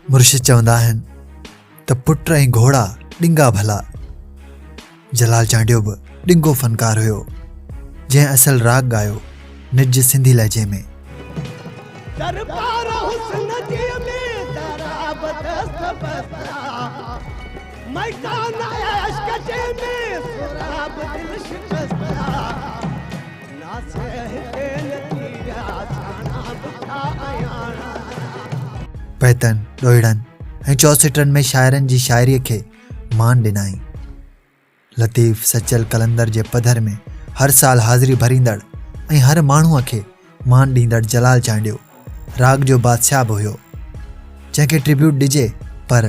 مرشد چوندا آهن ته پٽ ۽ گهوڙا ڏنگا ڀلا جلال چانڊيو به ڏنگو فنڪار هيو جنهن اصل راڳ ڳايو نج سنڌي لهجي ۾ دربار حسن جي ۾ درابت ميدان عشق جي ۾ سهراب دل شڪست ٿيا ناز هتي نه ٿي ويا سياڻا به ٿيا اياڻا پيتن، ڏوهيڙن ۽ چوسيٽن ۾ شاعرن جي شاعريء کي مان ڏنائين. لطيف سچل قلندر جي پڌر ۾ هر سال حاضري ڀريندڙ ۽ هر ماڻهوء کي مان ڏيندڙ جلال چانڊيو راڳ جو بادشاهه به هيو جنهن کي ٽريبيوٽ ڏجي پر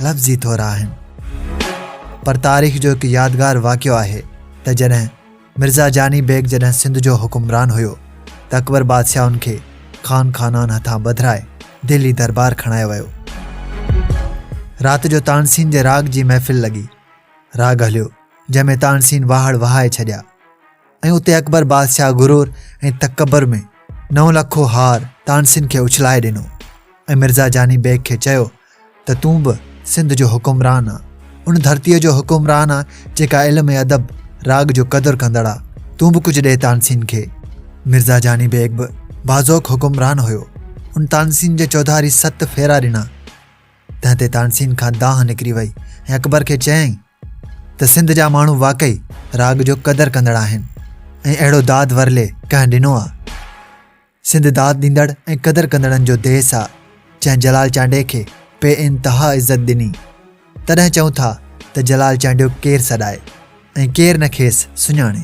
لفظ ئي ٿورا آهن پر تاريخ جو هڪ يادگار واقعو آهي ته جڏهن مرزا جاني بيگ جڏهن سنڌ جو حڪمران هيو ته اڪبر بادشاهه ان کي خان خانان هٿان ٻڌرائي دهلي دربار کڻايو ويو رات جو تانسين جي راڳ جي محفل لڳي راڳ هليو جنهن ۾ تانسين واهڙ وهائي ڇڏيا ۽ اتي اڪبر بادشاهه غرور ۽ تڪبر ۾ نو لکو هار تانسين کي اڇلائي ڏنو ۽ مرزا جاني بيگ کي چيو ته تون به سنڌ جو حڪمران آ ان ڌرتيء جو حڪمران آ جيڪا علم ۽ ادب راڳ جو قدر ڪندڙ آ تون به ڪجهه ڏي تانسين کي مرزا جاني بيگ به بازوق حڪمران هيو ان تانسين جي چوڌاري ست ڦيرا ڏنا تنهن تي تانسين کان دانهن نڪري وئي ۽ اڪبر کي چيائين ته سنڌ جا ماڻهو واقعي راڳ جو قدر ڪندڙ آهن ۽ اهڙو داد ورلي ڪنهن ڏنو آ؟ سنڌ داد ڏيندڙ ۽ قدر ڪندڙن جو ديس آ، جنهن جلال چانڊيي کي بي انتها عزت ڏني. تڏهن چئون ٿا ته جلال چانڊيو ڪير سڏائي ۽ ڪير نه کيس سڃاڻي.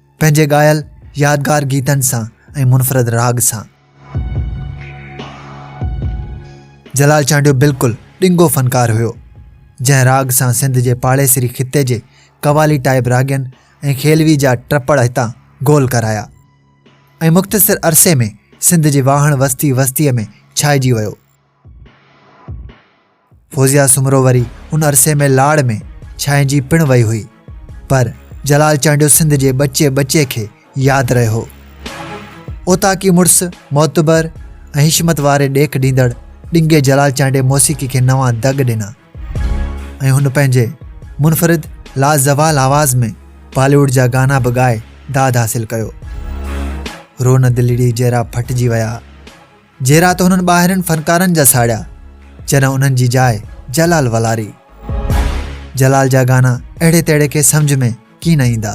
پنهنجي ڳايل يادگار گيتن سان ۽ منفرد راڳ سان جلال چانڊيو بلڪل ڏنگو فنڪار هيو جنهن راڳ سان سنڌ جي پاڙيسري خطي جي قوالي ٽائيب راڳين ۽ کيلوي جا ٽپڙ هتان گول ڪرايا ۽ مختصر عرصي ۾ سنڌ جي واهڻ وستي وستيء ۾ ڇائجي ويو فوزيا سومرو وري ان عرصي ۾ لاڙ ۾ ڇائنجي پڻ وئي هئي پر جلال چانڊيو سنڌ جي ٻچي ٻچي کي ياد رهيو هو اوتاڪي مڙس معتبر ۽ حشمت واري ڏيک ڏيندڙ ڏنگي جلال چانڊي موسيقي کي نوان دڳ ڏنا ۽ هن پنهنجي منفرد لازوال آواز ۾ باليووڊ جا گانا به ڳائي داد حاصل ڪيو رون دلڙي جهرا ڦٽجي ويا جهيرا ته هنن ٻاهرين فنڪارن جا ساڙيا جڏهن انهن جي جاء جلال ولاري. جلال جا گانا اهڙي تهڙي کي سمجھ ۾ ڪي نه ايندا.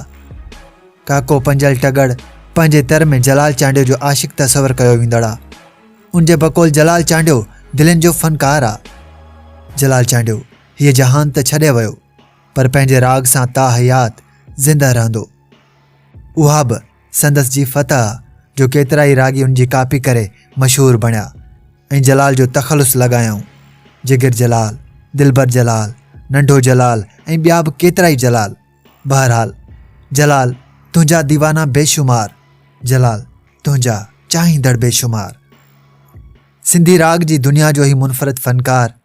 ڪاڪو پنجل ٽڳڙ پنهنجي تر ۾ جلال چانڊيو جو عاشق تصور ڪيو ويندڙ آ. ان جي بقول جلال چانڊيو دلين جو فنڪار آ. جلال چانڊيو هيء جهان ته ڇڏي ويو پر پنهنجي راڳ سان تاحيات زنده رهندو. اها به سندس جي فتح جو ڪيترائي راڳي ان جي ڪاپي ڪري مشهور بڻيا ۽ جلال جو تخلص لڳايائون جگر جلال دلبر جلال ننڍو جلال ۽ ٻيا به ڪيترائي جلال بهرحال جلال تنهنجا ديوانا بيشمار جلال تنهنجا چاهيندڙ بيشمار سنڌي راڳ جي دنيا جو هي منفرد فنڪار